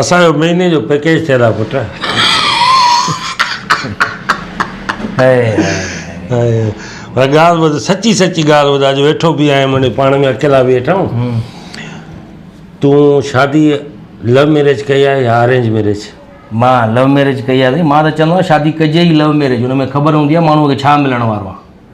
اسان جو مهيني جو پيڪيج ٿيل آ پٽ. پر ڳالهه ٻڌ سچي سچي ڳالهه ٻڌ اڄ ويٺو به آهيان منهنجي پاڻ ۾ اڪيلا ويٺا آهيون تون شادي لو ميرج ڪئي آهي يا ارينج ميرج مان لو ميرج ڪئي آهي سائين مان ته چوندو آهيان شادي ڪجي ئي لو ميرج ان ۾ خبر هوندي آهي ماڻهوء کي ڇا ملڻ وارو آهي.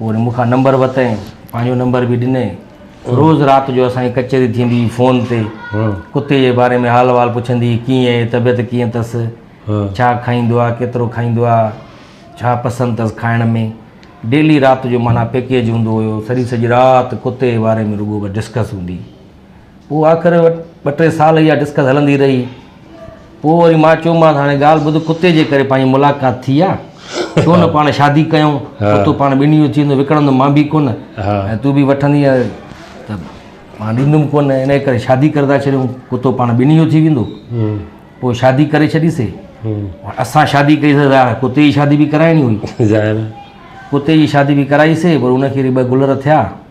وري مون کان نمبر ورتائين، پنهنجو نمبر به ڏنائين. روز رات جو اسان جي ڪچهري ٿيندي هئي فون تي. ڪتي جي باري ۾ حال احوال پڇندي هئي، ڪيئن آهي، طبيعت ڪيئن اٿس، ڇا کائيندو آهي، ڪيترو کائيندو آهي، ڇا پسند اٿس کائڻ ۾. ڊيلي رات جو معنيٰ پيڪيج هوندو هيو، سڄي سڄي رات ڪتي جي باري ۾ رڳو بس ڊسڪس هوندي هئي. پوء آخر ٻه ٽي سال اها ڊسڪس هلندي رهي. پوء وري مان چيومانس هاڻي ڳالهه ٻڌ ڪتي جي ڪري پنهنجي ملاقات ٿي آ. ڇو نه پاڻ شادي ڪيون. ڪتو پاڻ ٻنهي جو ٿي ويندو وڪڻندم مان به ڪونه ۽ تون به وٺندينء ته مان ڏيندم ڪونه انهيء ڪري شادي ڪري ٿا ڇڏيون. ڪتو پاڻ ٻنهي جو ٿي ويندو. پوء شادي ڪري ڇڏي سي. اسان شادي ڪئي سي ظاهر آ ڪتي جي شادي به ڪرائڻي هئي. ڪتي جي شادي به ڪرائي سي پر ان کي وري ٻه گلر ٿيا.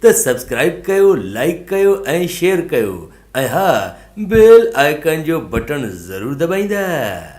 ته سبسڪرائب ڪيو لائيڪ ڪيو ۽ شيئر ڪيو ۽ ها بيل آئيڪان جو بٽڻ ضرور دٻائيندا.